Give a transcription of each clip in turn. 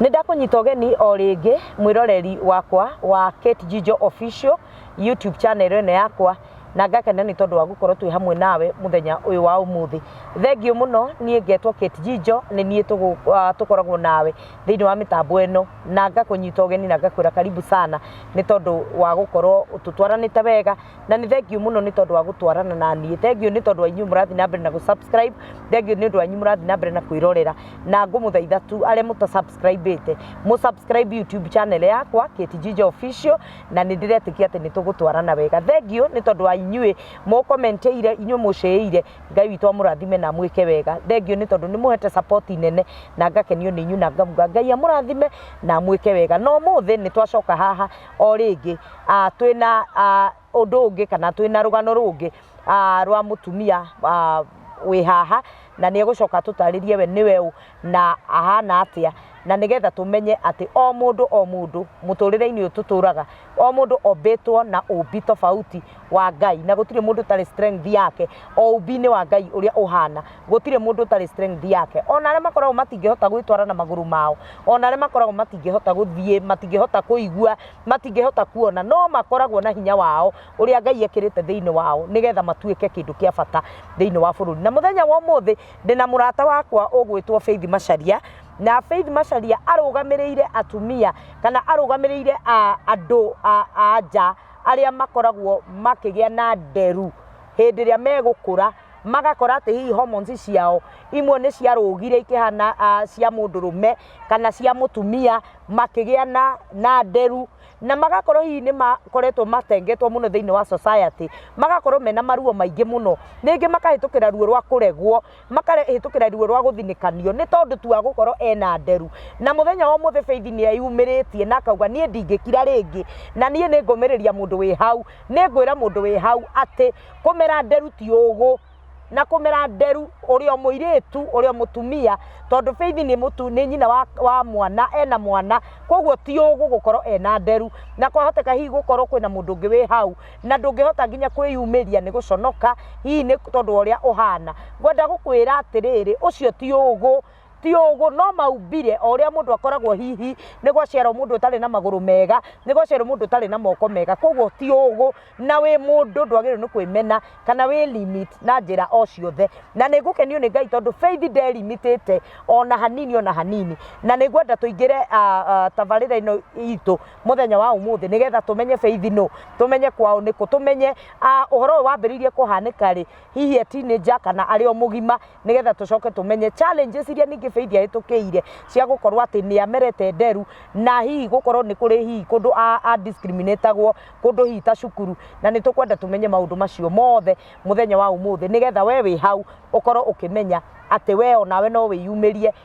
Nĩ ndakũnyita ũgeni o rĩngĩ mwĩroreri wakwa wa Kate Jijo Official YouTube channel ĩno yakwa na ngakena nĩ tondũ wa gũkorwo twĩ hamwe nawe mũthenya ũyũ wa ũmũthĩ. Thengiũ mũno niĩ ngetwo Kate Jijo nĩ niĩ tũkoragwo nawe thĩinĩ wa mĩtambo ĩno na ngakũnyita ũgeni na ngakwĩra karibu sana nĩ tondũ wa gũkorwo tũtwaranĩte wega. na nĩ thengiũ mũno nĩ tondũ wa gũtwarana na niĩ thengiũ nĩ tondũ wa inyuĩ mũrathiĩ na mbere na gũsubscribe thengiũ nĩ ũndũ wanyu mũrathiĩ na mbere na kwĩrorera na ngũmũthaitha tu arĩa mũtasubscribĩte mũsubscribe youtube channel yakwa Kate Jinja official na nĩ ndĩretĩkia atĩ nĩ tũgũtwarana wega thengiũ nĩ tondũ wa inyuĩ mũkomenteire inyuĩ mũcĩĩire ngai witũ amũrathime na mwĩke wega thengiũ nĩ tondũ nĩ mũhete support nene na ngakenio nĩ inyuĩ na ngamuga ngai amũrathime na mwĩke wega na ũmũthĩ nĩ twacoka haha o rĩngĩ twĩna ũndũ ũngĩ kana twĩna rũgano rũngĩ rwa mũtumia wĩ haha na nĩ egũcoka atũtarĩrie we nĩwe ũũ na ahana atĩa na nĩgetha tũmenye atĩ o mũndũ o mũndũ mũtũrĩre-inĩ ũyũ tũtũraga o mũndũ ombĩtwo na ũmbi tofauti wa Ngai na gũtirĩ mũndũ ũtarĩ strength yake o ũmbi-inĩ wa Ngai ũrĩa ũhana. gũtirĩ mũndũ ũtarĩ strength yake ona arĩa makoragwo matingĩhota gwĩtwara na magũrũ mao ona arĩa makoragwo matingĩhota gũthiĩ matingĩhota kũigua matingĩhota kuona no makoragwo na hinya wao ũrĩa ngai ekĩrĩte thĩinĩ wao nĩgetha matuĩke kĩndũ kĩa bata thĩinĩ wa bũrũri na mũthenya wa ũmũthĩ ndĩna mũrata wakwa ũgwĩtwo faith macaria na faith macaria arũgamĩrĩire atumia kana arũgamĩrĩire a- andũ a- a nja arĩa makoragwo makĩgĩa na nderu hĩndĩ ĩrĩa megũkũra magakora atĩ hihi hormones ciao imwe nĩ ciarũgire ikĩhana ah, cia mũndũrũme kana cia mũtumia makĩgĩa na, na nderu na magakorwo hihi nĩ makoretwo matengetwo mũno thĩinĩ wa society magakorwo mena maruo maingĩ mũno ningĩ makahĩtũkĩra ruo rwa kũregwo makahĩtũkĩra ruo rwa gũthinĩkanio nĩ tondũ tu wa gũkorwo ena nderu na mũthenya wa mũthĩ beithi nĩ eyumĩrĩtie na akauga niĩ ndingĩkira rĩngĩ na niĩ nĩ ngũmĩrĩria mũndũ wĩ hau nĩ ngwĩra mũndũ wĩ hau atĩ kũmera nderu ti ũgũ na kũmera nderu ũrĩa mũirĩtu ũrĩa mũtumia tondũ Faith nĩ mũtu nĩ nyina wa, wa mwana ena mwana koguo ti ũgũ gũkorwo ena nderu na kwahoteka hihi gũkorwo kwĩna mũndũ ũngĩ wĩ hau na ndũngĩhota nginya kwĩyumĩria nĩ gũconoka hihi nĩ tondũ wa ũrĩa ũhana ngwenda gũkwĩra atĩrĩrĩ ũcio ti ũgũ ti ũgũ no maumbire o ũrĩa mũndũ akoragwo hihi nĩ gwaciarwo mũndũ ũtarĩ na magũrũ mega nĩ gwaciarwo mũndũ ũtarĩ na moko mega koguo ti ũgũ na wĩ mũndũ ndwagĩrĩirwo nĩ kwĩmena kana wĩ limit na njĩra o ciothe na nĩ ngũkenio nĩ ngai tondũ faith ndelimitĩte ona hanini ona hanini na nĩ ngwenda tũingĩre ah, ah, tabarĩra ĩno itũ mũthenya wa ũmũthĩ nĩgetha tũmenye faith no tũmenye kwao nĩkũ tũmenye ah, ũhoro ũyũ wambĩrĩirie kũhanĩka rĩ hihi e teenager kana arĩ o mũgima nĩgetha tũcoke tũmenye challenges iria ningĩ Faith ahĩtũkĩire cia gũkorwo atĩ nĩ amerete nderu na hihi gũkorwo nĩ kũrĩ hihi kũndũ a- a discriminatagwo kũndũ hihi ta cukuru na nĩ tũkwenda tũmenye maũndũ macio mothe mũthenya wa ũmũthĩ nĩgetha we wĩ hau ũkorwo ũkĩmenya atĩ we onawe no wĩyumĩrie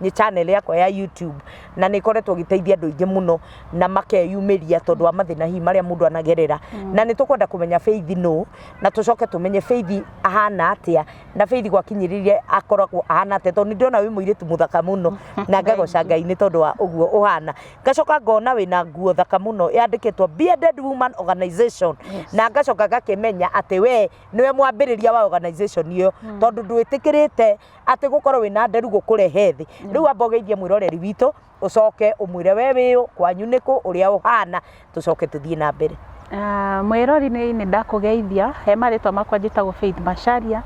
nĩ channel yakwa ya YouTube na nĩ ĩkoretwo ĩgĩteithia andũ aingĩ mũno na makeyumĩria tondũ wa mathĩna hihi marĩa mũndũ anagerera na nĩ tũkwenda kũmenya Faith nũ na tũcoke tũmenye Faith ahana atĩa na Faith gwakinyĩrĩire akoragwo ahana atĩa tondũ nĩ ndĩrona wĩ mũirĩtu mũthaka mũno na ngagoca Ngai nĩ tondũ wa ũguo ũhana ngacoka ngona wĩna nguo thaka mũno yandĩkĩtwo Bearded Woman Organization na ngacoka ngakĩmenya atĩ we nĩwe mwambĩrĩria wa organization ĩyo tondũ ndwĩtĩkĩrĩte atĩ gũkorwo wĩna nderu gũkũrehe thĩ rĩu amba ũgeithie mwĩroreri witũ ũcoke ũmwĩre we wĩũ kwanyu nĩkũ ũrĩa ũhana tũcoke tũthiĩ na mbere Ah, mwĩrori nĩ nĩ ndakũgeithia he marĩtwa makwa njĩtagwo Faith Macharia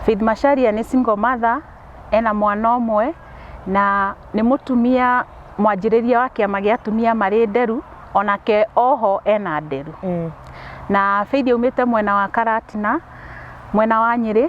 Faith Macharia nĩ single mother ena mwana ũmwe na nĩ mũtumia mwanjĩrĩria wa kĩama gĩa atumia marĩ nderu onake oho ena nderu na Faith aumĩte mwena wa Karatina mwena wa Nyĩrĩ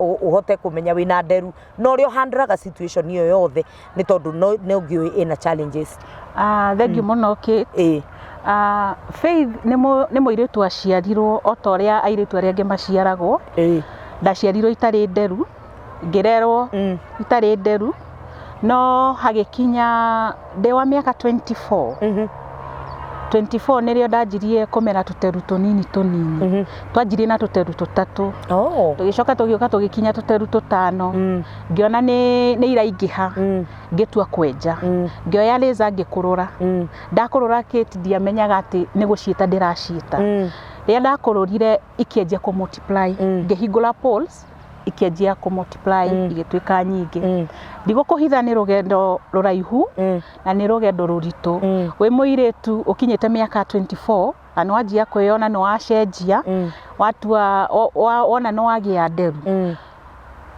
ũ- ũhote kũmenya wĩna nderu na ũrĩa ũhandlaga situation ĩyo yothe nĩ tondũ no- nĩ ũngĩũĩ ĩna challenges Ah, thengiũ mũno Kate. ĩĩ Ah, Faith nĩ mũ- nĩ mũirĩtu waciarirwo o ta ũrĩa airĩtu arĩa angĩ maciaragwo ĩĩ ndaciarirwo itarĩ nderu ngĩrerwo Mm. itarĩ nderu no hagĩkinya ndĩ wa mĩaka 24 Mhm. 24 nĩrĩo ndanjirie kũmera tũteru tũnini tũnini Mhm. twanjirie na tũteru tũtatũ Oh. tũgĩcoka tũgĩũka tũgĩkinya tũteru tũtano Mm. ngĩona nĩ nĩ iraingĩha Mm. ngĩtua kwenja Mm. ngĩoya rĩza ngĩkũrũra Mm. ndakũrũra kĩti ndiamenyaga atĩ nĩ gũciĩta ndĩraciĩta Mm. rĩrĩa ndakũrũrire ikĩanjia kũ multiply Mm. ngĩhingũra polls ikĩanjia kũ multiply Mm. igĩtuĩka nyingĩ Mm. ndigũkũhitha nĩ rũgendo rũraihu Mm. na nĩ rũgendo rũritũ Mm. wĩ mũirĩtu ũkinyĩte mĩaka 24 na nĩ wanjia kwĩyona nĩ wacenjia Mm. watua o- wa- wona nĩ wagĩa nderu Mm.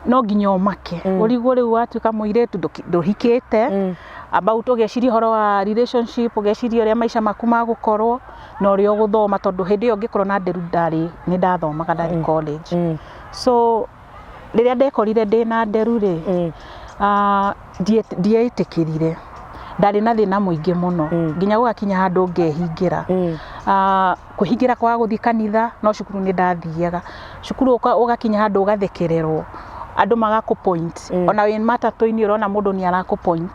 no nginya ũmake mm. ũrigwo rĩu watuĩka mũirĩtu ndũhikĩte mm. about ũgeciria ũhoro wa relationship ũgeciria ũrĩa maica maku magũkorwo na ũrĩa ũgũthoma tondũ hĩndĩ ĩyo ngĩkorwo na nderu ndarĩ nĩ ndathomaga ndarĩ mm. college mm. so rĩrĩa ndekorire ndĩ na nderu rĩ mm. uh, ndieĩtĩkĩrire ndarĩ na thĩna mũingĩ mũno mm. nginya gũgakinya handũ ngehingĩra mm. uh, Kũhingĩra kwaga gũthiĩ kanitha, no cukuru nĩ ndathiaga. Cukuru ũgakinya handũ ũgathekererwo, andũ magakũ point. O na wĩ matatũ-inĩ ũrona mũndũ nĩ arakũ point.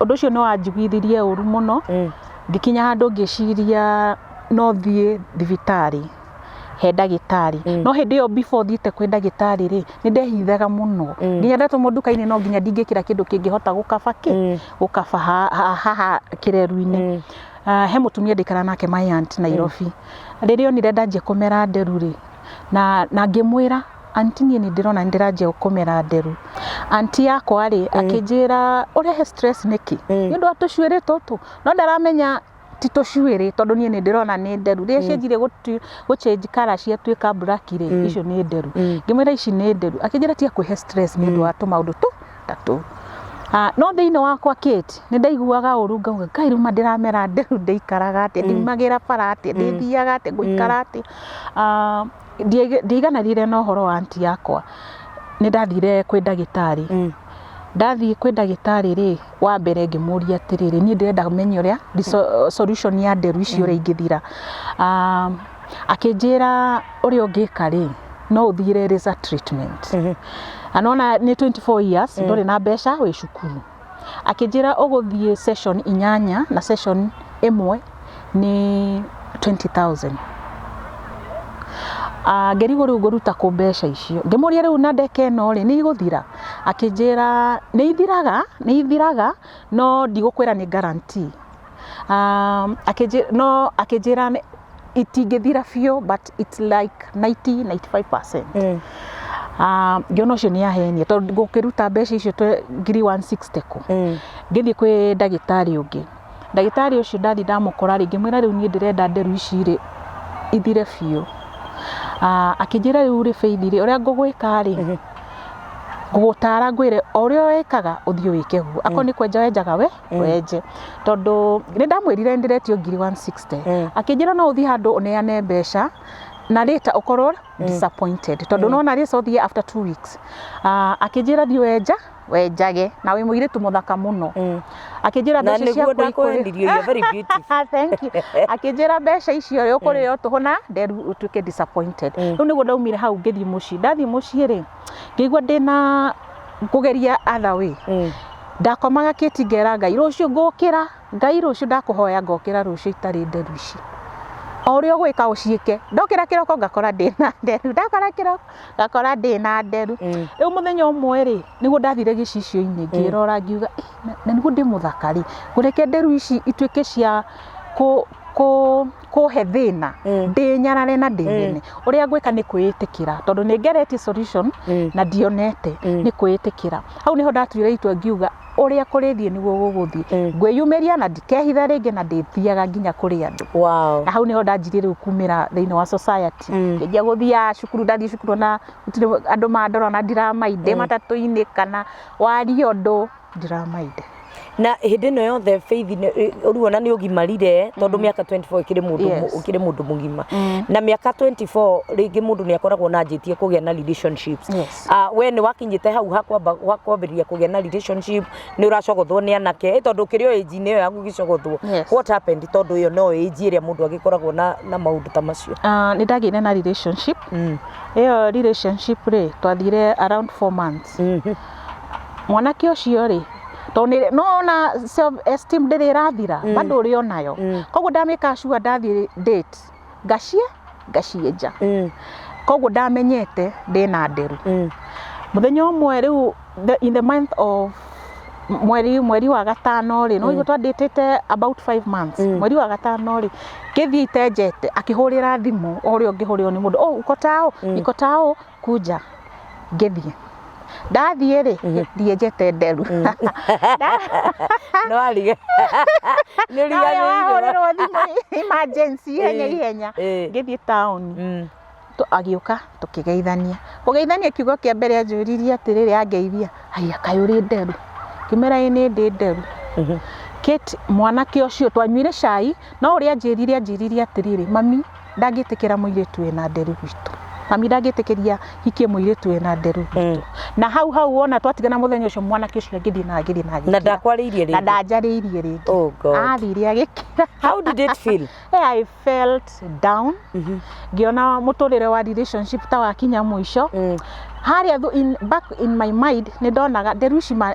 Ũndũ ũcio nĩ wanjiguithirie ũru mũno, ngĩkinya handũ ngĩciria no thiĩ thibitarĩ he ndagĩtarĩ. No hĩndĩ ĩyo before thiĩte kwĩ ndagĩtarĩ rĩ, nĩ ndehithaga mũno. Nginya ndatũmwo nduka-inĩ no nginya ndingĩkĩra kĩndũ kĩngĩhota gũkaba kĩ? Gũkaba haha kĩreru-inĩ. Uh, he mutumia ndikara nake my aunt Nairobi mm. rĩrĩa onire ndanjia kũmera nderu rĩ na na ngĩmwĩra anti niĩ nĩ ndĩrona nĩ ndĩranjia kũmera nderu anti yakwa rĩ mm. akĩnjĩra ũrehe stress nĩkĩ mm. nĩ ũndũ wa tũcuĩrĩ tũtũ no ndaramenya ti tũcuĩrĩ tondũ niĩ nĩ ndĩrona nĩ nderu rĩrĩa mm. cianjire gũchange kara ciatuĩka black rĩ mm. icio nĩ nderu mm. ngĩmwĩra ici nĩ nderu akĩnjĩra tia kwĩhe stress nĩ ũndũ wa tũmaũndũ tũ gatatũ. No thĩinĩ wakwa Kate nĩ ndaiguaga ũru ngauga Ngai rĩu ma ndĩramera atĩa, rĩu ndĩikaraga atĩa, ndiumagĩra bara atĩa, ndĩthiaga atĩa, ngũikara atĩa. Ndiaigananire na ũhoro wa anti yakwa, nĩ ndathire kwĩ ndagĩtarĩ. Ndathiĩ kwĩ ndagĩtarĩ rĩ, wa mbere ngĩmũria atĩrĩrĩ, niĩ ndĩrenda menye ũrĩa solution ya nderu ici ũrĩa ingĩthira. akĩnjĩra ũrĩa ũngĩka rĩ no ũthire laser treatment na nona nĩ 24 years ndũrĩ na mbeca wĩ cukuru akĩnjĩra ũgũthiĩ session inyanya na session ĩmwe nĩ 20000 Ah, ngĩrigwo rĩu ngũruta kũ mbeca icio ngĩmũria rĩu na ndeka ĩno rĩ nĩ igũthira akĩnjĩra nĩ ithiraga nĩ ithiraga no ndigũkwĩra nĩ guarantee Um, akĩnjĩ- no akĩnjĩra nĩ- itingĩthira biũ but it's like 90 95 Eh. um, ngĩona ũcio nĩ ahenia tondũ gũkĩruta mbeca icio twe- ngiri 160 kũ Eh. ngĩthiĩ kwĩ ndagĩtarĩ ũngĩ ndagĩtarĩ ũcio ndathi ndamũkora rĩngĩ mwĩra rĩu niĩ ndĩrenda nderu ici rĩ ithire biũ Ah, akĩnjĩra rĩu rĩ bĩithi rĩ ũrĩa ngũgwĩka rĩ Ehe. ngũgũtara ngwĩre o ũrĩa wĩkaga ũthiĩ wĩke guo akorwo nĩ kwenja wenjaga we Eh. wenje tondũ nĩ ndamwĩrire ndĩretio ngiri 160 Eh. akĩnjĩra no ũthiĩ handũ ũneane mbeca na rĩta ũkorwo disappointed tondũ no na rĩta ũthiĩ after two weeks Ah, akĩnjĩra thiĩ wenja wenjage na wĩ mũirĩtu mũthaka mũno Mm. akĩnjĩra Na mbeca nĩguo ciaku ikũrĩ- ndakwendirie, you're very beautiful. Thank you. akĩnjĩra mbeca icio rĩ ũkũrĩo tũhũ na nderu ũtuĩke disappointed Mm. rĩu nĩguo ndaumire hau ngĩthiĩ mũciĩ ndathiĩ mũciĩ rĩ ngĩigua ndĩna kũgeria atha wĩ ndakomaga kĩti ngera ngai rũciũ ngũkĩra ngai rũciũ ndakũhoya ngokĩra rũciũ itarĩ nderu ici o ũrĩa ũgwĩka ũciĩke ndokĩra kĩroko ngakora ndĩna nderu ndokĩra kĩroko ngakora ndĩna nderu rĩu mũthenya ũmwe rĩ nĩguo ndathire gĩcicio-inĩ ngĩrora ngiuga na nĩguo ndĩ mũthaka rĩ ngũreke nderu ici ituĩke cia kũ kũhe thĩna Mm. ndĩnyarare na ndĩthĩne ũrĩa ngwĩka nĩ kwĩĩtĩkĩra tondũ nĩ ngeretie solution Mm. na ndionete Mm. nĩ kwĩĩtĩkĩra hau nĩho ndatuire itua ngiuga ũrĩa kũrĩthiĩ nĩguo gũgũthiĩ Mm. ngwĩyumĩria na ndikehitha rĩngĩ na ndĩthiaga nginya kũrĩ andũ wow na hau nĩho ndanjirie rĩu kumĩra thĩinĩ wa society Mm. ngĩanjia gũthiaga cukuru ndathiĩ cukuru na gũtirĩ andũ mandora na ndiramainde matatũ-inĩ kana waria ũndũ ndiraminda na hĩndĩ ĩno yothe faith nĩ- ũruona nĩ ũgimarire tondũ mĩaka 24 ũkĩrĩ mũndũ Yes. mũ- ũkĩrĩ mũndũ mũgima Mm. na mĩaka 24 rĩngĩ mũndũ nĩ akoragwo na njĩtie kũgĩa na relationships Yes. Ah, we nĩ wakinyĩte hau hakwamba- hakwambĩrĩria kũgĩa na relationship nĩ ũracogothwo nĩ anake ĩ tondũ ũkĩrĩ o age inĩ ĩyo yaku ũgĩcogothwo Yes. what happened tondũ ĩyo no age ĩrĩa mũndũ agĩkoragwo na, na maũndũ ta macio Ah, nĩ ndagĩire na relationship mm. ĩyo relationship rĩ twathire around four months Mwanake ũcio rĩ, tondũ nĩ nĩ wona self esteem ndĩrĩ ĩrathira, bado ũrĩ o nayo. Kwoguo nda make sure ndathiĩ date, ngaciĩ, ngaciĩnja. Kwoguo ndamenyete ndĩna nderu. Mũthenya ũmwe rĩu the in the month of mweri mweri wa gatano rĩ, nĩ waigua twa date ĩte about five months. Mweri wa gatano rĩ, Kĩbi itenjete, akĩhũrĩra thimũ ũrĩa ũngĩhũrĩrwo nĩ mũndũ, "Oh, uko tao? Niko tao?" kunja ngĩthiĩ ndathiĩ rĩ thiĩ njete nderu no arige nĩ ũriganĩirwo wahũrĩrwo thimũ emergency ihenya ihenya Ĩĩ. ngĩthiĩ taũni Mm. Tu- agĩũka tũkĩgeithania kũgeithania kiugo kĩa mbere anjũririe atĩrĩrĩ angeithia haya kaĩ ũrĩ nderu ngĩmera ĩ nĩ ndĩ nderu Kate mwanake ũcio twanyuire cai no ũrĩa anjĩrire anjĩrire atĩrĩrĩ mami ndangĩtĩkĩra mũirĩtu wĩna nderu gwitũ mami ndangĩtĩkĩria hikie mũirĩtu wĩna nderu gwitũ na hau hau wona twatigana mũthenya ũcio mwanake ũcio agĩthiĩ na agĩthiĩ na na agĩkira ndakwarĩirie na rĩngĩ ndanjarĩirie rĩngĩ oh god athire agĩkira how did it feel Eh, I felt down Mhm. ngĩona mũtũrĩre wa relationship ta wakinya mũico Mm. harĩa thu- in, back in my mind nĩ ndonaga nderu ici ma-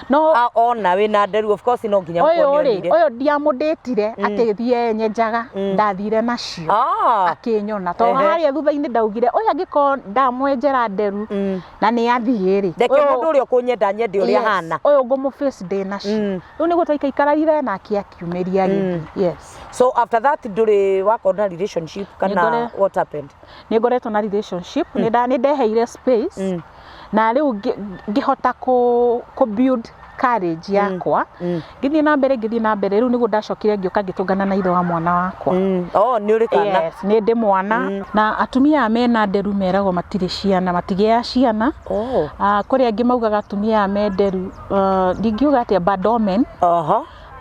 No- A- ona wĩ na nderu of course no nginya ũyũ ũkorwo rĩ nĩonire. ũyũ ndiamũndĩtire akĩthiĩ nyenjaga ndathire nacio Ah, akĩnyona tondũ Ehe. harĩa thutha-inĩ ndaugire ũyũ angĩkorwo ndamwenjera nderu Mm. na nĩ athiĩ rĩ reke ũyũ- mũndũ ũrĩa ũkũnyenda nyende ũrĩa Yes, hana ũyũ ngũmũface ndĩ nacio Mm. rĩu nĩguo twaikaikararire nake akiumĩria gĩthiĩ yes so after that ndũrĩ wakorwo na relationship kana Nĩngore- what happened nĩ ngoretwo na relationship nĩ nda- nĩ ndeheire space Mm. na rĩu ngĩhota kũ build courage yakwa ngĩthiĩ na mbere ngĩthiĩ na mbere rĩu nĩguo ndacokire ngĩũka ngĩtũngana na ithe wa mwana wakwa oh nĩ ũrĩ kana yes nĩ ndĩ mwana na atumia aya mena nderu meragwo matirĩ ciana matigĩaga ciana kũrĩ angĩ maugaga atumia aya me nderu ndingiuga atĩa bad omen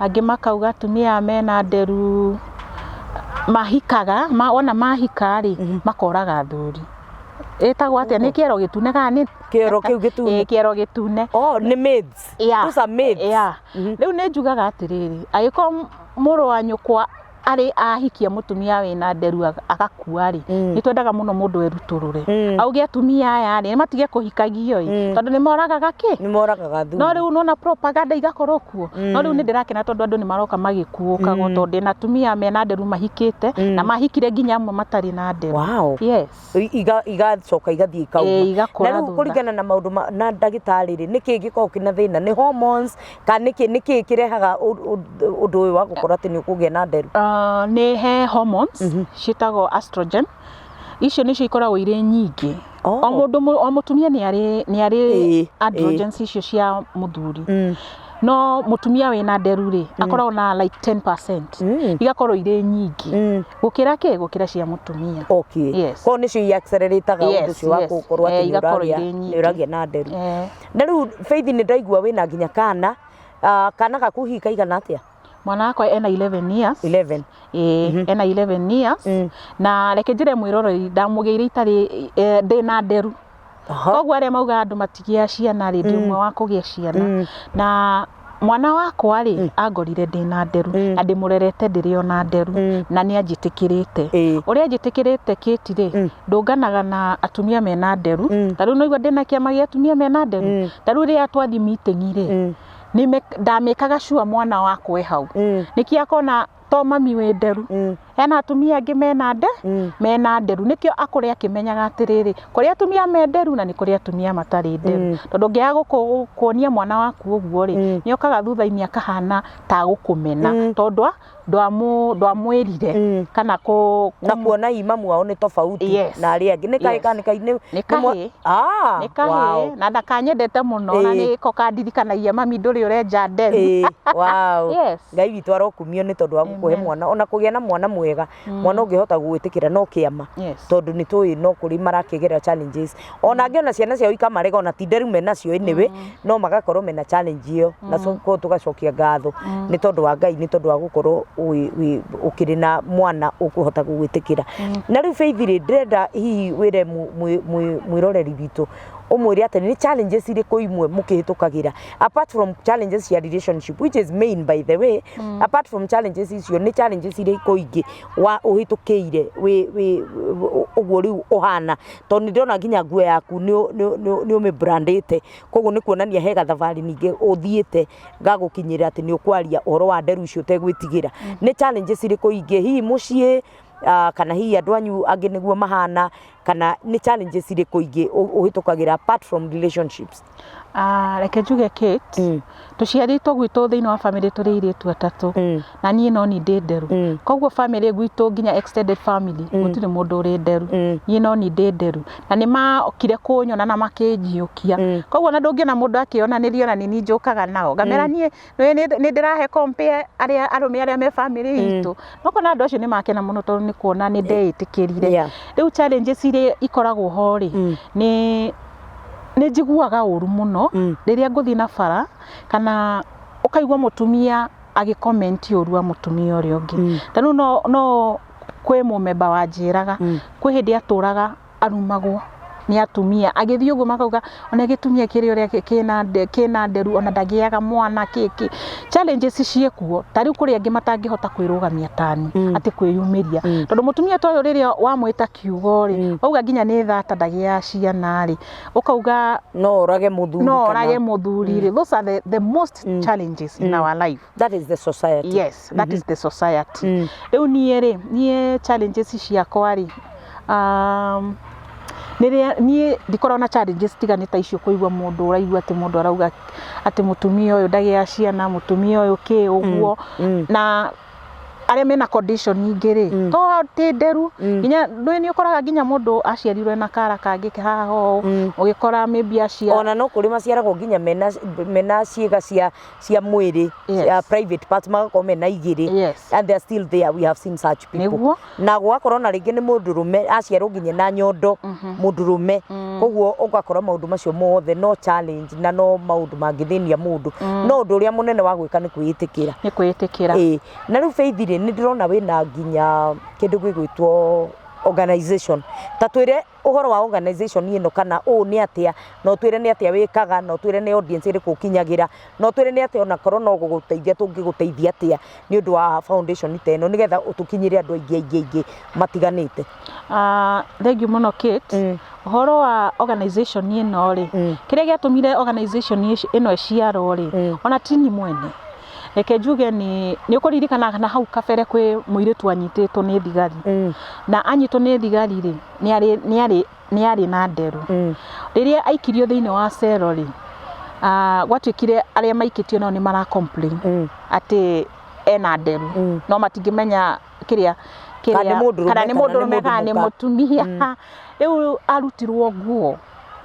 angĩ makauga atumia aya mena nderu mahikaga wona mahika rĩ makoraga athuri ĩtagwo atĩa nĩ kĩero gĩtune kana nĩ kĩero kĩu gĩtune kĩero gĩtune oh nĩ maids yeah. those are maids yeah. mm -hmm. rĩu nĩ njugaga atĩrĩrĩ agĩkorwo mũrũ wa nyũkwa arĩ ahikia mutumia wä na nderu agakua rä mm. nä twendaga må no må ndå erutå rä mm. auge atumia aya rä nä matige kå hikagio mm. tondå nä moragaga kä no rä u nona propaganda igakorwo kuo no rä u nä ndä rakena tondå andå nä maroka magä kuå kago tondå na atumia mena nderu mahikä te na mahikire nginya amwe matarä na nderu yes i- iga- igacoka igathiĩ ikauma Ĩĩ, igakũra na rĩu thutha. kũringana na maũndũ ma- na ndagĩtarĩ rĩ nĩ kĩĩ gĩkoragwo kĩna thĩna nĩ hormones kana nĩ kĩĩ- nĩ kĩĩ kĩrehaga ũ- ũ- ũndũ ũyũ wa gũkorwo atĩ nĩ ũkũgĩa na nderu Ah, nĩ he hormones ciĩtagwo estrogen icio nĩcio ikoragwo irĩ nyingĩ Oh. o mũndũ mũ- o mũtumia nĩ arĩ nĩ arĩ Ĩĩ, androgens icio cia mũthuri Mm. no mũtumia wĩna nderu rĩ akoragwo na like 10% Mm. igakorwo irĩ nyingĩ Mm. gukira ki gukira cia mutumia okay yes. ko nicio i accelerataga yes, undu cio wa gukorwo ati ni uragia ni uragia na nderu eh. na riu faith ni ndaigua wina nginya kana uh, kana gaku hi kaigana atia mwana wakwa ena 11 years 11 ĩĩ mm -hmm. ena 11 years mm. na reke njĩre mwĩroroi ndamũgĩire itarĩ eh, ndĩ na nderu koguo arĩa maugaga andũ matigĩa ciana rĩ ndĩ mm. ũmwe wa kũgĩa ciana mm. na mwana wakwa rĩ mm. angorire ndĩ na nderu mm. na ndĩmũrerete ndĩrĩ ona nderu mm. na nĩ anjĩtĩkĩrĩte mm. ũrĩa anjĩtĩkĩrĩte kĩti rĩ mm. ndũnganaga na atumia mena nderu mm. ta rĩu noigua ndĩ na kĩama gĩa atumia mena nderu mm. ta rĩu rĩrĩa twathi mitĩng'i rĩ mm. ndamĩkaga cua mwana wakwa hau mm. nĩkĩ akona to mami wĩ nderu mm. ena atumia angĩ mena nde mm. mena nderu nĩkĩo akũrĩ akĩmenyaga atĩrĩrĩ kũrĩ atumia me nderu na nĩ kũrĩ atumia matarĩ nderu mm. tondũ ngĩaga gũkuonia mwana waku ũguo rĩ mm. nĩ okaga thutha-inĩ akahana ta gũkũmena mm. tondũ ndwamwĩrire mm. kana kũ na kuona imamu wao nĩ tofauti yes. na arĩa angĩ nĩ kahĩ kana nĩ nĩ kahĩ ah, nĩ kahĩ na ndakanyendete mũno na nĩ ko kandirikanagia mami ndũrĩ ũrenja nderu yes Ngai witũ arokumio nĩ tondũ wa gũkũhe mwana ona kũgĩa na mwana mwega mwana ũngĩhota gũgwĩtĩkĩra no kĩama Yes. tondũ nĩ tũĩ no kũrĩ marakĩgerera challenges ona angĩ ona ciana ciao ikamarega ona ti nderu menacio anyway no magakorwo mena challenge ĩyo na so ko tũgacokia ngatho nĩ tondũ wa Ngai nĩ tondũ wa gũkorwo wĩ- wĩ- ũkĩrĩ na mwana ũkũhota gũgwĩtĩkĩra na rĩu Faith rĩ ndĩrenda hihi wĩre mũ- mwĩ- mwĩ- mwĩroreri witũ ũmwĩre atĩ nĩ challenges irĩkũ imwe mũkĩhĩtũkagĩra apart from challenges cia relationship which is main by the way mm. apart from challenges icio nĩ challenges irĩkũ ingĩ wa ũhĩtũkĩire wĩ- wĩ- wĩ- ũguo rĩu ũhana tondũ nĩ ndĩrona nginya nguo yaku nĩ- nĩ- nĩ- nĩ ũmĩbrandĩte koguo nĩ kuonania he gathabarĩ ningĩ ũthiĩte gagũkinyĩra atĩ nĩ ũkwaria ũhoro wa nderu icio ũtegwĩtigĩra nĩ challenges irĩkũ ingĩ hihi mũciĩ ah, kana hihi andũ anyu angĩ nĩguo mahana kana nĩ challenges irĩkũ ingĩ ũ- ũhĩtũkagĩra apart from relationships Ah, reke njuge Kate Mm. tũciarĩtwo gwitũ thĩinĩ wa bamĩrĩ tũrĩ irĩtu atatũ Mm. na niĩ no ni ndĩ nderu Mm. koguo bamĩrĩ gwitũ nginya extended family gũtirĩ mũndũ ũrĩ nderu Mm. niĩ no ni ndĩ nderu na nĩ makire kũnyona na makĩnjiũkia Mm. koguo na ndũngĩona mũndũ akĩonanĩrio na nĩ niĩ njũkaga nao ngamera niĩ Nĩ- nĩ- nĩ ndĩrahe compare arĩa arũme arĩa me bamĩrĩ itũ nokona andũ acio nĩ makena mũno tondũ nĩ kuona nĩ ndeĩtĩkĩrire Yeah. rĩu challenges iria ikoragwo ho rĩ Mm. nĩ nĩ njiguaga ũru mũno Mm. rĩrĩa ngũthiĩ na bara kana ũkaigua mũtumia agĩkomenti ũru wa mũtumia ũrĩa ũngĩ Mm. ta rĩu no no kwĩ mũmemba wanjĩraga Mm. kwĩ hĩndĩ atũraga arumagwo nĩ atumia agĩthiĩ ũguo makauga ona gĩtumia kĩrĩ ũrĩa kĩna nderu ona ndagĩaga mwana kĩkĩ challenges ciĩkuo ta rĩu kũrĩ angĩ matangĩhota kwĩrũgamia tani mm. atĩ kwĩyumĩria mm. tondũ mũtumia toyo rĩrĩa wamwĩta kiugo rĩ mm. wauga nginya nĩ thata ndagĩa ciana rĩ ũkauga no orage mũthuri no orage mũthuri rĩ mm. those are the, the most mm. challenges mm. in our life That is the society. yes that is the society Mm. rĩu niĩ rĩ niĩ challenges ciakwa rĩ um, nĩrĩa niĩ ndikoragwo na challenges tigane ta icio kũigua mũndũ ũraigua atĩ mũndũ arauga atĩ mũtumia ũyũ ndagĩa ciana mũtumia ũyũ kĩ ũguo mm. na arĩa mena condition ingĩ rĩ Mm. to atĩ nderu Mm. nginya nĩ nĩ ũkoraga nginya mũndũ aciarirwo na kara kangĩ haha ũũ Mm. ũgĩkora maybe aciara ona no kũrĩ maciaragwo nginya mena mena ciĩga cia cia mwĩrĩ Yes. ya private parts magakorwo mena igĩrĩ Yes. and they are still there we have seen such people Nĩguo. na gwakorwo na rĩngĩ nĩ mũndũrũme aciarwo nginya na nyondo mũndũrũme koguo ũgakora maũndũ macio mothe no challenge na no maũndũ mangĩthĩnia mũndũ no ũndũ ũrĩa mũnene wa gwĩka nĩ kwĩĩtĩkĩra nĩ kwĩĩtĩkĩra Ĩĩ. na rĩu beithi rĩ nĩ ndĩrona wĩna nginya kĩndũ gĩgwĩtwo organization ta twĩre Ũhoro wa organization ĩno kana ũũ nĩ atĩa, na ũtwĩre nĩ atĩa wĩkaga, na ũtwĩre nĩ audience ĩrĩkũ ũkinyagĩra, na ũtwĩre nĩ atĩa ona korwo no gũgũteithia tũngĩgũteithia atĩa nĩ ũndũ wa foundation ta ĩno nĩgetha tũkinyĩre andũ aingĩ aingĩ aingĩ matiganĩte. Aah thengiũ mũno Kate, ũhoro wa organization ĩno rĩ, kĩrĩa gĩatũmire organization ĩno ĩciarwo rĩ, ona ti niĩ mwene. reke njuge nĩ nĩ ũkũririkana na hau kabere kwĩ mũirĩtu anyitĩtwo nĩ thigari Mm. na anyitwo nĩ thigari rĩ nĩ arĩ- nĩ arĩ- nĩ arĩ na nderu Mm. rĩrĩa aikirio thĩinĩ wa cero rĩ ah, gwatuĩkire arĩa maikĩtio nao nĩ mara complain Mm. atĩ ena nderu Mm. no matingĩmenya kĩrĩa Kana nĩ mũndũrũme, kana nĩ kana nĩ mũndũrũme kana nĩ mũka. mũtumia rĩu arutirwo nguo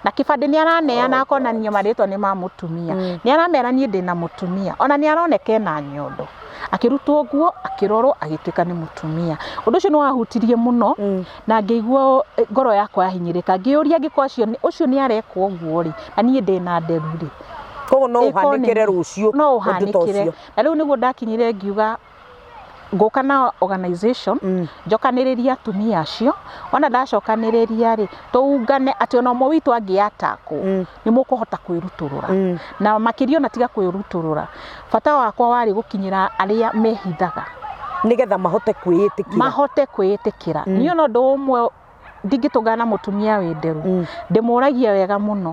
na kĩbandĩ nĩ araneana akonanio marĩtwa nĩ ma mũtumia mm. nĩ aramera niĩ ndĩ na mũtumia ona nĩ aroneka na nyondo akĩrutwo ũguo akĩrorwo agĩtuĩka nĩ mũtumia ũndũ ũcio nĩ wahutirie mũno mm. na ngĩigua eh, ngoro yakwa yahinyĩrĩka ngĩyũria ngĩkwa acio ũcio nĩ arekwo ũguo rĩ na niĩ ndĩ na nderu rĩ koguo no ũhanĩkĩre rũciũ no ũhanĩkĩre na rĩu nĩguo ndakinyire ngiuga ngũka na organization mm. njokanĩrĩria atumia acio ona ndacokanĩrĩria rĩ tũungane atĩ ona ũmwe witũ angĩatakwo mm. nĩ mũkũhota kwĩrutũrũra mm. na makĩria ona tiga kwĩrutũrũra bata wakwa warĩ gũkinyĩra arĩa mehithaga nigetha mahote kwĩyĩtĩkĩra mahote kwĩyĩtĩkĩra mm. niyo no ndũ ũmwe ndingĩtũngana na mũtumia wĩ nderu mm. ndĩmũragie wega mũno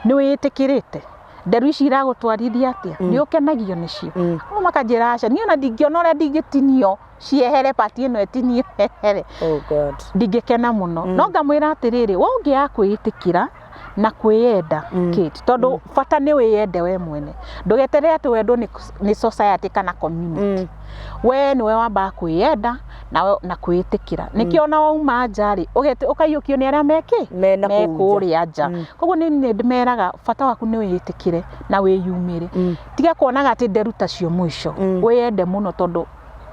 nĩ wĩtĩkĩrĩte nderu ici iragũtwarithia atia mm. nĩ ũkenagio nĩcio mm. no makanjĩra aca niĩ ona ndingĩona ũrĩa ndingĩtinio ciehere pati ĩno ĩtinie here oh ndingĩkena mũno mm. no ngamwĩra atĩrĩrĩ we ũngĩakwĩĩtĩkĩra na kwĩyenda Kate, tondũ bata nĩ wĩyende we mwene ndũgeterere atĩ wendwo nĩ, nĩ society kana community we nĩwe wambaga kwĩyenda na, na kwĩĩtĩkĩra nĩkĩo ona wauma nja rĩ ũgeti- ũkaiyũkio nĩ arĩa mekĩ Me na kũu nja. kũrĩa nja koguo nĩ niĩ ndĩmeraga bata waku nĩ wĩĩtĩkĩre na wĩyumĩre tiga kuonaga atĩ nderu tacio mũico wĩyende mũno tondũ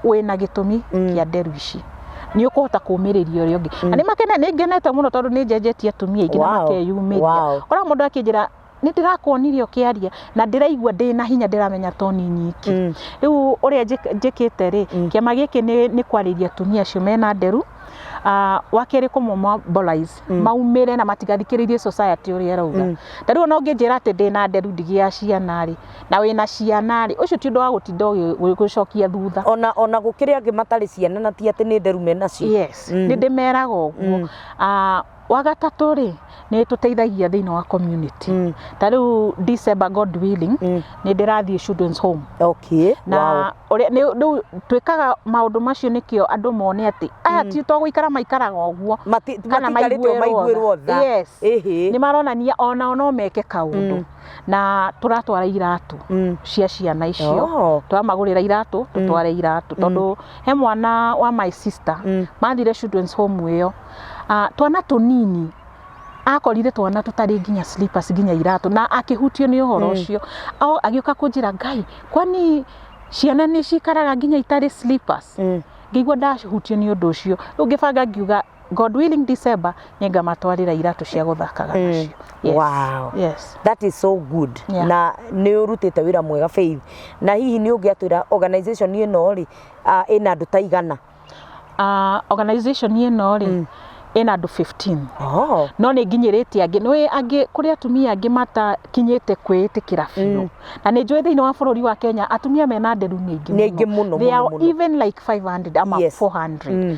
wĩna gĩtũmi kĩa nderu ici nĩ ũkũhota kũmĩrĩria ũrĩa ũngĩ na nĩ makene nĩ ngenete mũno tondũ nĩ njenjetie atumia aingĩ na Wow. makeyumĩria Wow. kora mũndũ akĩnjĩra nĩ ndĩrakuonire ũkĩaria na ndĩraigua ndĩ na hinya ndĩramenya to nĩ nyiki Mm. rĩu ũrĩa njĩk- njĩkĩte rĩ kĩama gĩkĩ nĩ- nĩ kwarĩria atumia acio mena nderu Ah, wa kerĩ kũmomobilize maumĩre na matigathikĩrĩrie society ũrĩa ĩrauga ta rĩu ona ũngĩnjĩra atĩ ndĩ na nderu ndigĩa ciana rĩ na wĩna ciana rĩ, ũcio ti ũndũ wa gũtinda ũgĩ- gũgĩcokia thutha. ona ona gũkĩrĩ angĩ matarĩ ciana na ti atĩ nĩ nderu me nacio Yes, Mm. nĩ ndĩmeraga ũguo. Mm. Ah, wa gatatũ rĩ, nĩ tũteithagia thĩinĩ wa community. Mm. Ta rĩu December God willing, Mm. nĩ ndĩrathiĩ children's home. okay Na wow. ũrĩa nĩ- rĩu twĩkaga maũndũ macio nĩkĩo andũ mone atĩ aya ti to gũikara maikaraga ũguo. Mati- Kana matikarĩte o maiguĩrwo maiguĩrwo tha. tha Yes. Ĩhĩ. Nĩ maronania onao no meke kaũndũ. Mm. na tũratwara iratũ Mm. cia ciana icio Oh. tũramagũrĩra iratũ tũtware iratũ tondũ he mwana wa my sister Mm. mathire children's home ĩyo Ah, twana tũnini akorire twana tũtarĩ nginya slippers nginya iratũ na akĩhutio nĩ ũhoro ũcio Ao- agĩũka kũnjĩra ngai kwani ciana nĩ cikaraga nginya itarĩ slippers Mm. ngĩigua ndahutio nĩ ũndũ ũcio rĩu ngĩbanga ngiuga God willing December nĩ ngamatwarĩra iratũ cia gũthakaga nacio. Yes. Wow. Yes. That is so good. Yeah. Na nĩ ũrutĩte wĩra mwega Faith. Na hihi nĩ ũngĩatwĩra organization ĩno rĩ ah, ĩna andũ ta igana? Uh, organization ĩno rĩ ĩna andũ 15 Oh. no nĩ nginyĩrĩtie angĩ nĩ angĩ kũrĩ atumia angĩ matakinyĩte kwĩĩtĩkĩra biũ na nĩ njũĩ thĩinĩ wa bũrũri wa Kenya atumia mena nderu nĩ aingĩ Nĩ aingĩ mũno, They mũno, are mũno. even like 500 ama Yes. 400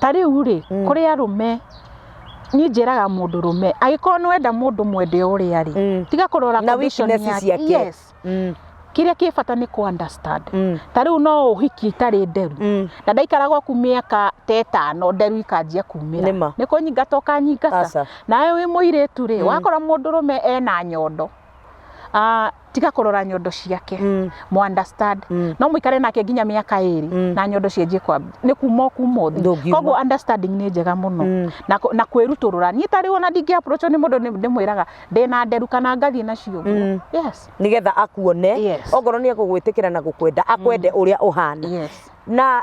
ta rĩu rĩ mm. kũrĩ arũme niĩ njĩraga mũndũ rũme agĩkorwo nĩ wenda mũndũ mwende ũrĩa rĩ mm. tiga kũrora condition yake yes mm kĩrĩa kĩ bata nĩ kũ understand mm. ta rĩu no ũhiki itarĩ nderu mm. na ndaikaraga ku mĩaka ta ĩtano nderu ikanjia kumĩra nĩ kũnyingata ũkanyingata nawe wĩ mũirĩtu rĩ mm. wakora mũndũ rũme ena nyondo ah, tiga kũrora nyondo ciake mm. mu understand mm. no muikare nake nginya miaka iri mm. na nyondo cienjie kwa ni kuma kuma thi koguo understanding ni njega muno mm. na na kwiruturura ni tari ona ndingi approach ni mundu ndimwiraga ndi na nderu kana ngathie nacio mm. yes nigetha akuone yes. ongoro ni egugwitikira na gukwenda akwende mm. uria uhana yes. na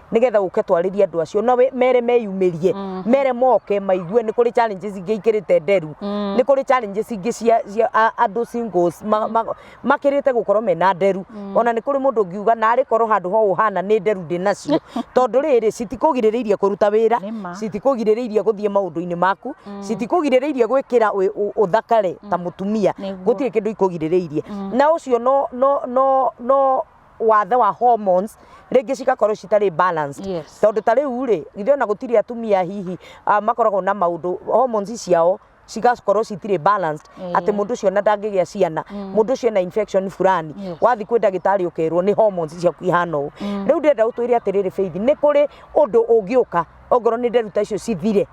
nigetha uke twarĩrie andũ acio na wĩ- mere meyumĩrie mere moke maigue nĩ kũrĩ challenges ingĩ ikĩrĩte nderu nĩ kũrĩ challenges ingĩ cia cia a- andũ singles ma- ma- makĩrĩte gũkorwo mena nderu ona nĩ kũrĩ mũndũ ũngiuga narĩ korwo handũ ho ũhana nĩ nderu ndĩ nacio tondũ rĩrĩ citikũgirĩrĩirie kũruta wĩra Nĩ ma. citikũgirĩrĩirie gũthiĩ maũndũ-inĩ maku citikũgirĩrĩirie gwĩkĩra wĩ- ũ- ũthakare ta mũtumia Nĩguo. gũtirĩ kĩndũ ikũgirĩrĩirie na ũcio no no no no wathe wa hormones rĩngĩ cigakorwo citarĩ balanced Yes. tondũ ta rĩu rĩ ithe ona gũtirĩ atumia hihi ah, makoragwo na maũndũ hormones ciao cigakorwo citirĩ balanced Eh. atĩ mũndũ ũcio ona ndangĩgĩa ciana mũndũ ũcio ena infection fulani Yes. wathiĩ kwĩ ndagĩtarĩ ũkerwo nĩ hormones ciaku ihana ũũ rĩu ndĩrenda ũtwĩre atĩrĩrĩ Faith nĩ kũrĩ ũndũ ũngĩũka ongorwo nĩ nderuta icio cithire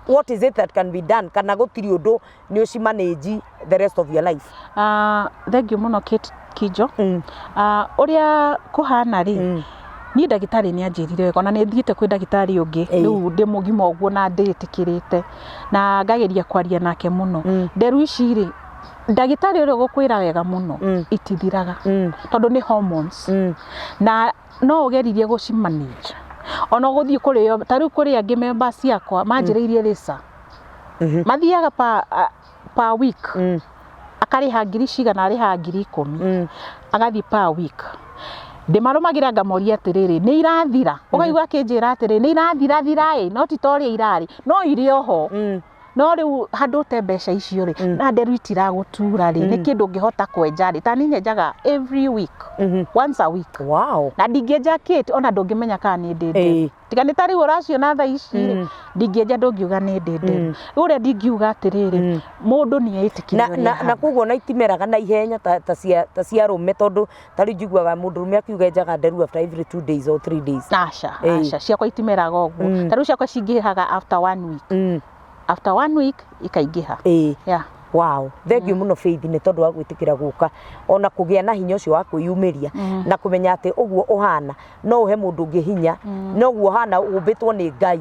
what is it that can be done kana gũtirĩ ũndũ nĩ ũci manage the rest of your life Ah, thengiũ mũno Kate Kinjo Mm. Ah, ũrĩa kũhana rĩ Mm. niĩ ndagĩtarĩ nĩ anjĩrire wega ona nĩ thiĩte kwĩ ndagĩtarĩ ũngĩ Ĩĩ. rĩu ndĩ mũgima ũguo na ndĩĩtĩkĩrĩte na ngageria kwaria nake mũno Mm. nderu ici rĩ ndagĩtarĩ ũrĩa ũgũkwĩra wega mũno Mm. itithiraga Mm. tondũ nĩ hormones Mm. na no ũgeririe gũcimanage ona gũthiĩ kũrĩo ta rĩu kũrĩ angĩ memba ciakwa manjĩrĩirie rĩca Mhm. mathiaga pa, a- pa week Mm. akarĩha ngiri cigana arĩha ngiri ikũmi Mm. agathiĩ pa week ndĩmarũmagĩra ngamoria atĩrĩrĩ nĩ irathira ũkaigua akĩnjĩra atĩrĩrĩ nĩ irathira thira ĩ no ti ta ũrĩa irarĩ no irĩ oho Mm. no rĩu handũ ũte mbeca icio rĩ Mm. na nderu itiragũtura rĩ nĩ Mm. kĩndũ ngĩhota kwenja rĩ ta niĩ nyenjaga every week Mhm. once a week Wow. na ndingĩenja kĩti ona ndũngĩmenya kana nĩ ndĩ nderu Ĩĩ. tiga nĩ ta rĩu ũraciona tha ici rĩ Mm. ndingĩenja ndũngiuga nĩ ndĩndĩ Mm. rĩu ũrĩa ndingiuga atĩrĩrĩ Mm. mũndũ nĩ na, eĩtĩkĩrĩria na, ũrĩa na koguo na itimeraga na ihenya ta, ta, cia, ta cia rũme tondũ ta rĩu njiguaga mũndũ rũme akiuga enjaga nderu after every two days or three days aca Ĩĩ. aca ciakwa itimeraga ũguo Mm. ta rĩu ciakwa cingĩhaga after one week mm. after one week ikaingĩha ĩĩ yeah. Wow. Thengiũ mũno Faith nĩ tondũ wa gwĩtĩkĩra gũka ona kũgĩa na hinya ũcio wa kwĩyumĩria na kũmenya atĩ ũguo ũhana no ũhe mũndũ ũngĩ hinya no ũguo ũhana ũmbĩtwo nĩ Ngai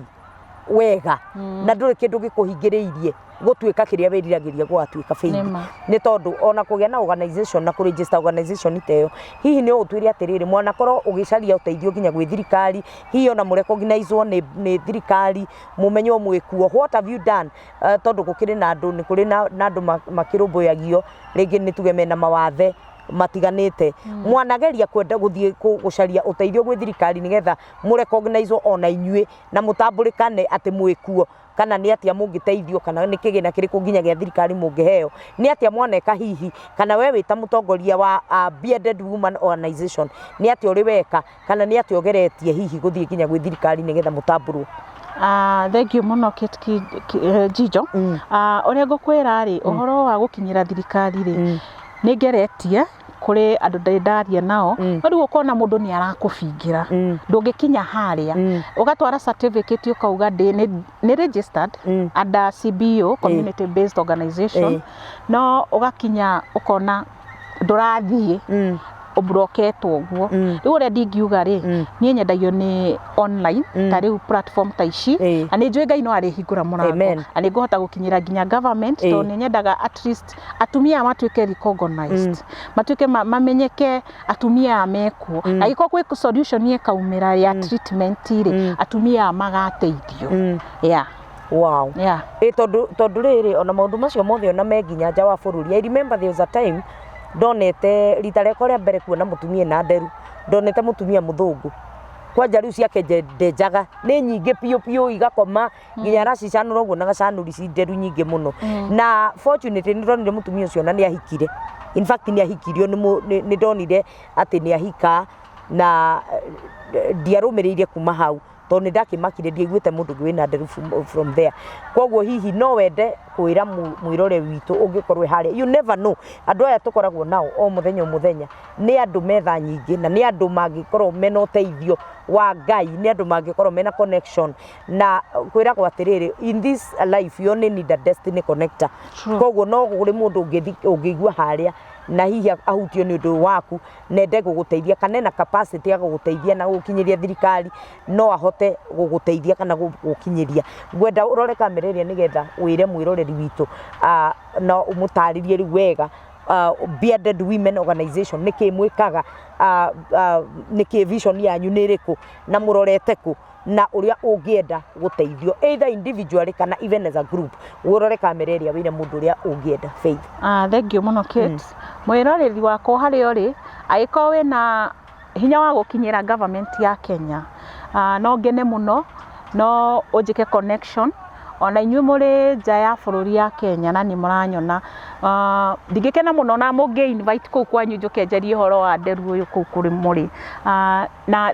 wega na ndũrĩ kĩndũ gĩkũhingĩrĩirie gũtuĩka kĩrĩa wĩriragĩria gwatuĩka Faith Nĩ ma. nĩ tondũ ona kũgĩa na organization na kũregister organization ta ĩyo hihi nĩ ũtwĩre atĩrĩrĩ mwanakorwo ũgĩcaria ũteithio nginya gwĩ thirikari hihi ona mũrekognizwo nĩ nĩ thirikari mũmenywo mwĩ kuo what have you done Eh, tondũ gũkĩrĩ na andũ nĩ kũrĩ na na andũ ma- makĩrũmbũyagio rĩngĩ nĩ tuge mena mawathe matiganĩte mwanageria kwenda gũthiĩ kũ- gũcaria ũteithio gwĩ thirikari nĩgetha mũrekognaizo ona inyuĩ na mũtambũrĩkane atĩ mwĩ kuo kana nĩ atĩa mũngĩteithio kana nĩ kĩgĩna kĩrĩkũ nginya gĩa thirikari mũngĩheo nĩ atĩa mwaneka hihi kana we wĩ ta mũtongoria wa uh, bearded woman organization nĩ atĩa ũrĩ weka Kana nĩ atĩ ogeretie hihi gũthiĩ nginya gwĩ thirikari nĩgetha mũtambũrwo? Ah, thengiũ mũno Kate Ki- Ki- eh, Njijo. Mm. Ah, ũrĩa ngũkwĩra rĩ ũhoro wa gũkinyĩra thirikari rĩ Mm. nĩ ngeretie kũrĩ andũ ndĩ ndaria nao Mm. no rĩu ũkona mũndũ nĩ arakũbingĩra Mm. ndũngĩkinya harĩa Mm. ũgatwara certificate ũkauga ndĩ nĩ- nĩ registered Mm. under CBO community based organization Eh. no ũgakinya ũkona ndũrathiĩ Mm. ũmburoketwo ũguo Mm. rĩu ũrĩa ndingiuga rĩ Mm. niĩ nyendagio nĩ online Mm. ta rĩu platform ta ici Ĩĩ. na nĩ njũĩ ngai no arĩhingũra mũrango Amen. na nĩ ngũhota gũkinyĩra nginya government Ĩĩ. tondũ nĩ nyendaga at least atumia matuĩke recognized matuĩke ma- mamenyeke atumia aya mekuo na gĩkorwo kwĩ solution ĩkaumĩra ya treatment rĩ atumia aya magateithio Mm. yeah Wow. Yeah. Ĩ tondũ tondũ rĩrĩ ona maũndũ macio mothe ona me nginya nja wa bũrũri. I remember there was a time ndonete rita rĩakwa rĩa mbere kuona mũtumia na nderu ndonete mũtumia mũthũngũ kwanja rĩu ciake nje- ndenjaga nĩ nyingĩ biũ biũ igakoma nginya aracicanũra ũguo na gacanũri ci nderu nyingĩ mũno na fortunately nĩ ndonire mũtumia ũcio na nĩ ahikire in fact nĩ ahikirio nĩ mũ- nĩ nĩ ndonire atĩ nĩ ahika na eh, ndiarũmĩrĩire kuma hau tondũ nĩ ndakĩmakire ndiaiguĩte mũndũ ũngĩ wĩna nderu from- from there koguo hihi no wende kwĩra mũ- mwĩrore witũ ũngĩkorwo harĩa you never know andũ aya tũkoragwo nao o mũthenya o mũthenya nĩ andũ metha nyingĩ na nĩ andũ mangĩkorwo mena ũteithio wa ngai nĩ andũ mangĩkorwo mena connection na kwĩragwo atĩrĩrĩ in this life you only need a destiny connector True. koguo no kũrĩ mũndũ ũngĩthi- ũngĩigua harĩa na hihi ahutio nĩ ũndũ waku nenda ĩgũgũteithia kana ena capacity ya gũgũteithia na gũkinyĩria thirikari no ahote gũgũteithia kana gũkinyĩria. Ngwenda ũrore kamera ĩrĩa nĩgetha wĩre mwĩroreri witũ na ũmũtarĩrie rĩu wega Bearded Women Organization nĩkĩĩ mwĩkaga, nĩkĩĩ vision yanyu nĩ ĩrĩkũ na mũrorete kũ? na ũrĩa ũngĩenda gũteithio either individually kana even as a group wĩrore kamera ĩrĩa wĩre mũndũ ũrĩa ũngĩenda Faith Ah, thengiũ mũno Kate mwĩroreri wakwa harĩa ũrĩ agĩkorwo wĩna hinya wa gũkinyĩra government ya Kenya ah, no ngene mũno no ũnjĩke connection ona inyuĩ mũrĩ nja ya bũrũri ya Kenya na nĩ mũranyona Ah, ndingĩkena mũno na mũngĩ invite kũu kwanyu njũke njarie ũhoro wa nderu ũyũ kũu kũrĩ mũrĩ Ah, na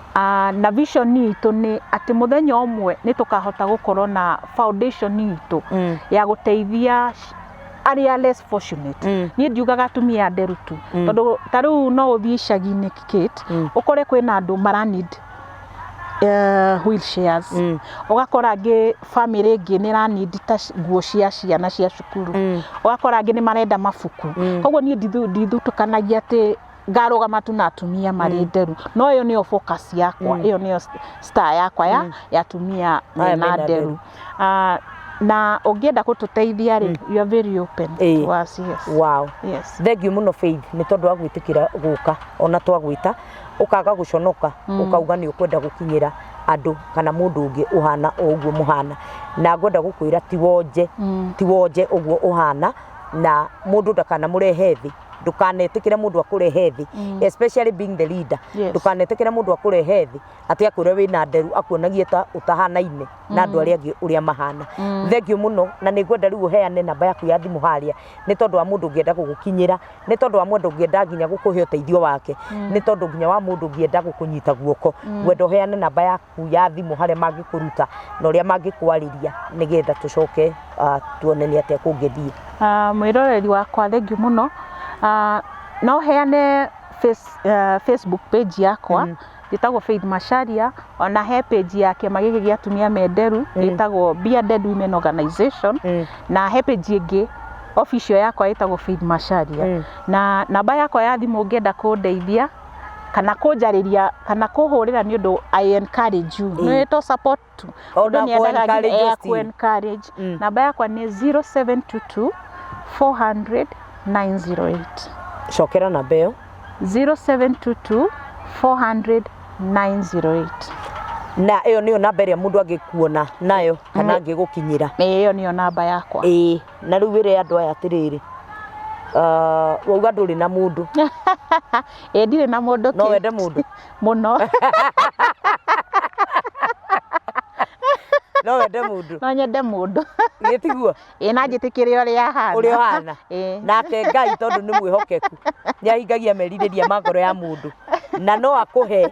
Na vision itũ nĩ atĩ mũthenya ũmwe nĩ tũkahota gũkorwo na foundation itũ ya gũteithia arĩa less fortunate. Niĩ ndiugaga atumia nderu tu, tondũ ta rĩu no ũthiĩ icagi-inĩ Kit, ũkore kwĩna andũ mara need wheelchairs, ũgakora angĩ bamĩrĩ ĩngĩ nĩ ĩra need ta nguo cia ciana cia cukuru, ũgakora angĩ nĩ marenda mabuku. Kwoguo niĩ ndithutũkanagia atĩ... ngarũgama tu na atumia marĩ mm. nderu no ĩyo nĩyo focus yakwa mm. ĩyo nĩyo star yakwa ya mm. ya atumia mena nderu ah, na ũngĩenda gũtũteithia rĩ mm. you are very open hey. to us yes wow yes thank you muno faith nĩ tondũ wa gwĩtĩkĩra gũka ona twagwĩta ũkaga gũconoka mm. ũkauga nĩ ũkwenda gũkinyĩra andũ kana mũndũ ũngĩ ũhana o ũguo mũhana na ngwenda gũkwĩra ti wonje mm. ti wonje ũguo ũhana na mũndũ ndakana mũrehe thĩ ndũkanetikire mundu akurehe thi mm. especially being the leader yes. ndũkanetikire mundu akurehe thi ati akwire wina nderu akuonagie ta utahanaine mm. na andu aria angi uria mahana mm. thengio muno na ni ngwenda riu uheane namba yaku ya thimu haria ni tondu wa mundu ngienda gugukinyira ni tondu wa mundu ngienda nginya gukuhe uteithio wake mm. ni tondu nginya wa mundu ngienda gukunyita guoko mm. ngwenda uheane namba yaku yaku ya thimũ harĩa mangĩkũruta na ũrĩa mangĩkwarĩria nĩgetha tũcoke ah, tuone nĩ atĩa kũngĩthiĩ Ah, mwĩroreri wakwa thengiũ mũno Ah, no heane face, ah, facebook page yakwa Mm. ĩtagwo faith macharia ona he page ya kĩama gĩkĩ gĩa atumia menderu Mm. ĩtagwo bearded women organization Mm. na he page ĩngĩ official yakwa ĩtagwo faith macharia Mm. na namba yakwa ya thimũ ũngĩenda kũndeithia kana kũnjarĩria kana kũhũrĩra nĩ ũndũ I encourage you nĩ to support tu O mũndũ na nĩ endaga kũ-encourage nginya ya still. kũ encourage Mm. namba yakwa nĩ 0722 400 908 cokera namba ĩyo 0722 400 908 na ĩyo nĩyo namba ĩrĩa mũndũ angĩkuona nayo kana angĩgũkinyĩra ĩyo nĩyo namba yakwa ĩĩ na rĩu wĩre andũ aya atĩrĩrĩ ah, wauga ndũrĩ na mũndũ ĩ ndirĩ na mũndũ no kĩ? wende mũndũ mũno no wende mũndũ no nyende mũndũ gĩtiguo ĩ na njĩtĩkĩre ũrĩa ahana ũrĩa ũhana Ĩ. nake ngai tondũ nĩ mwĩhokeku nĩ ahingagia merirĩria ma ngoro ya mũndũ na no akũhe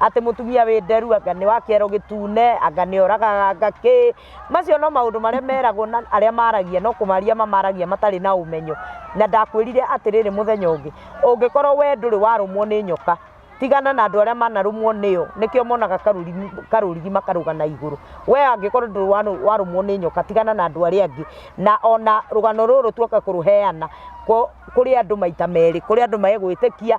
atĩ mũtumia wĩ nderu anga nĩ wa kĩero gĩtune anga nĩ oragaga anga kĩ macio no maũndũ marĩa meragwo na arĩa maragia no kũmaria mamaragia matarĩ na ũmenyo na ndakwĩrire atĩrĩrĩ mũthenya ũngĩ ũngĩkorwo we ndũrĩ warũmwo nĩ nyoka tigana na andũ arĩa manarũmwo nĩyo nĩkĩo monaga karũrigi karũrigi makarũga na igũrũ we angĩkorwo ndũrĩ wanũ- warũmwo nĩ nyoka tigana na andũ arĩa angĩ na ona rũgano rũrũ tuoka kũrũheana kũ- kũrĩ andũ maita merĩ kũrĩ andũ megwĩtĩkia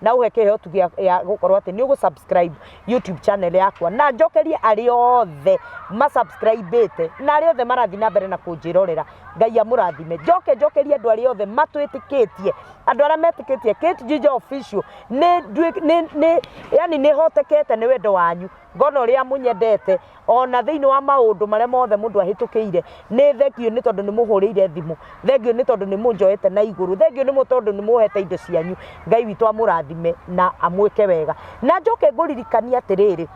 na ũhe kĩhotu gĩa gĩa gũkorwo atĩ nĩ ũgũ-subscribe YouTube channel yakwa na njokerie arĩa othe ma-subscribe-ĩte na arĩa othe marathiĩ na mbere na kũnjĩrorera Ngai amũrathime njoke njokerie andũ arĩa othe matwĩtĩkĩtie andũ arĩa metĩkĩtie Kate Jinja Official nĩ nduĩ- nĩ- nĩ- yani nĩhotekete nĩ wendo wanyu Ngona ũrĩa mũnyendete o na thĩinĩ wa maũndũ marĩa mothe mũndũ ahĩtũkĩire. Nĩ thengiũ nĩ tondũ nĩ mũhũrĩire thimũ. Thengiũ nĩ tondũ nĩ mũnjoete na igũrũ. Thengiũ nĩ tondũ nĩ mũhete indo cianyu. Ngai witũ amũrathime na amwĩke wega. Na njoke ngũririkanie atĩrĩrĩ,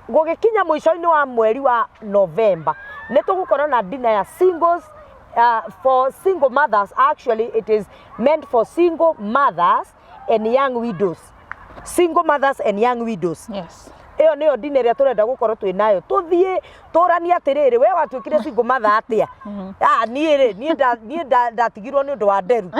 gũgĩkinya mũico-inĩ wa mweri wa November, nĩ tũgũkorwo na dinner ya singles, for single mothers, actually it is meant for single mothers and young widows single mothers and young widows yes ĩyo nĩyo ndini ĩrĩa tũrenda gũkorwo twĩ nayo tũthiĩ tũranie atĩrĩrĩ we watuĩkire single mother atĩa Ah, niĩ rĩ niĩ nda- niĩ nda- ndatigirwo nĩ ũndũ wa nderu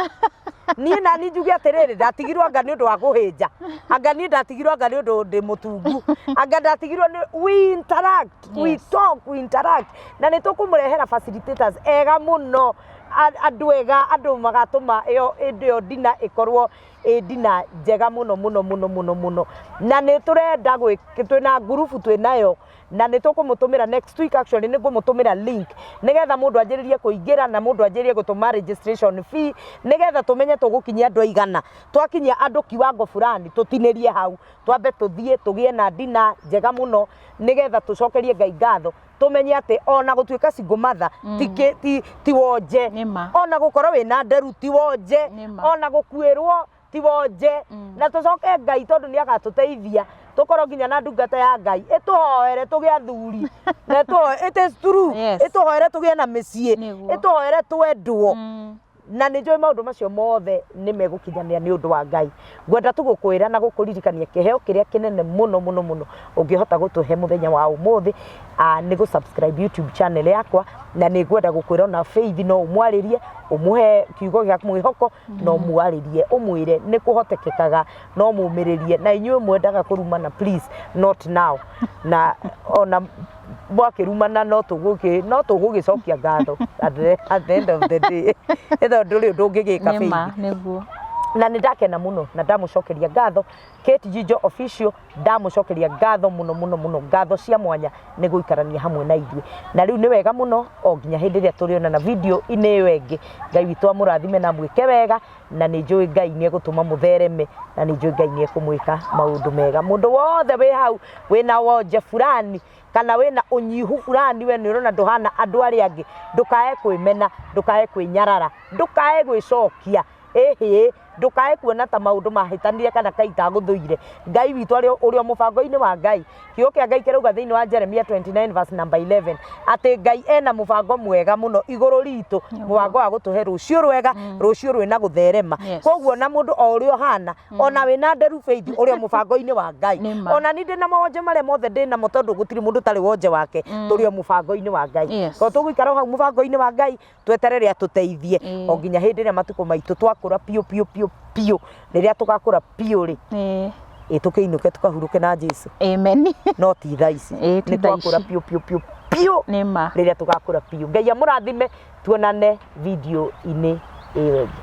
niĩ nani njuge atĩrĩrĩ ndatigirwo anga nĩ ũndũ wa kũhĩnja anga niĩ ndatigirwo anga nĩ ũndũ ndĩ mũtungu anga ndatigirwo nĩ we interact we Yes. talk we interact na nĩ tũkũmũrehera facilitators ega mũno andũ ega andũ magatũma ĩyo ĩndĩ ĩyo ndina ĩkorwo ĩ ndina njega mũno mũno mũno mũno mũno na nĩ tũrenda twĩna ngurubu twĩnayo na nĩ tũkũmũtũmĩra next week actually nĩ ngũmũtũmĩra link nĩgetha mũndũ anjĩrĩrie kũingĩra na mũndũ anjĩrĩrie gũtũma registration fee nĩgetha tũmenye tũgũkinyia andũ aigana twakinyia andũ kiwango fulani tũtinĩrie hau twambe tũthiĩ tũgĩe na ndina njega mũno nĩgetha tũcokerie Ngai ngatho. tũmenye atĩ ona gũtuĩka single mother ti kĩ- ti- ti wonje Nĩ ma. ona gũkorwo wĩna nderu ti wonje Nĩ ma. ona gũkuĩrwo ti wonje na tũcoke ngai tondũ nĩ agatũteithia tũkorwo nginya na ndungata ya ngai ĩtũhoere tũgĩa athuri na ĩtũho- it is true Yes. ĩtũhoere tũgĩe na mĩciĩ Nĩguo. ĩtũhoere twendwo Mm. na nĩ njũĩ maũndũ macio mothe nĩ megũkinyanĩra nĩ ũndũ wa Ngai. Ngwenda tu gũkwĩra na gũkũririkania kĩheo kĩrĩa kĩnene mũno mũno mũno ũngĩhota gũtũhe mũthenya wa ũmũthĩ ah, nĩ gũ-subscribe YouTube channel yakwa na nĩ ngwenda gũkwĩra ona Faith no ũmwarĩrie ũmũhe kiugo gĩa mwĩhoko no mwarĩrie ũmwĩre nĩ kũhotekekaga no mũmĩrĩrie na inyuĩ mwendaga kũrumana please not now na ona mwakĩrumana no tũgũgĩ no tũgũgĩcokia ngatho at the, at the end of the day ĩtho ndũrĩ ũndũ ũngĩgĩka nĩ ma baby nĩguo na nä ndakena må no na ndamå cokeria ngatho Kate Jijo official ndamå cokeria ngatho må no må no må no ngatho cia mwanya nä gå ikarania hamwe na ithuä na rä u nä wega må no o nginya hä ndä ä rä a tå rä onana video inä ä yo ä ngä ngai witå amå rathime na mwä ke wega na nĩ njũĩ ngai nĩ egũtũma mũthereme na nĩ njũĩ ngai nĩ ekũmwĩka maũndũ mega mũndũ wothe wĩ hau wĩna wonje fulani kana wĩna ũnyihu fulani we nĩ ũrona ndũhana andũ arĩa angĩ ndũkae kwĩmena ndũkae kwĩnyarara ndũkae gwĩcokia ĩhĩ ndũkae kuona ta maũndũ mahĩtanire kana kai kagũthũire ngai witũ arĩ ũrĩ o mũbango-inĩ wa ngai Kiugo kĩa Ngai kĩrauga thĩinĩ wa Jeremia 29 verse number 11 atĩ Ngai ena mũbango mwega mũno igũrũ ritũ, mũbango wa gũtũhe rũciũ rwega, rũciũ rwĩna gũtherema. Yes. Koguo na mũndũ o ũrĩa ũhana, ona wĩna nderu bĩithi ũrĩ o mũbango-inĩ wa Ngai. Nĩ ma. Ona niĩ ndĩ na mawonje marĩa mothe ndĩ namo tondũ gũtirĩ mũndũ ũtarĩ wonje wake, tũrĩ o mũbango-inĩ wa Ngai. Yes. Tondũ tũgũikara o hau mũbango-inĩ wa Ngai, tweterere atũteithie Ĩĩ. o nginya hĩndĩ ĩrĩa matukũ maitũ twakũra piũ piũ piũ piũ rĩrĩa tũgakũra piũ rĩ Eh, ĩ tũkĩinũke tũkahurũke na jesu amen no ti tha ici Ĩĩ, ti nĩ thaa twakũra ici. piũ piũ piũ piũ nĩ ma rĩrĩa tũgakũra piũ ngai amũrathime tuonane video-inĩ ĩyo ĩngĩ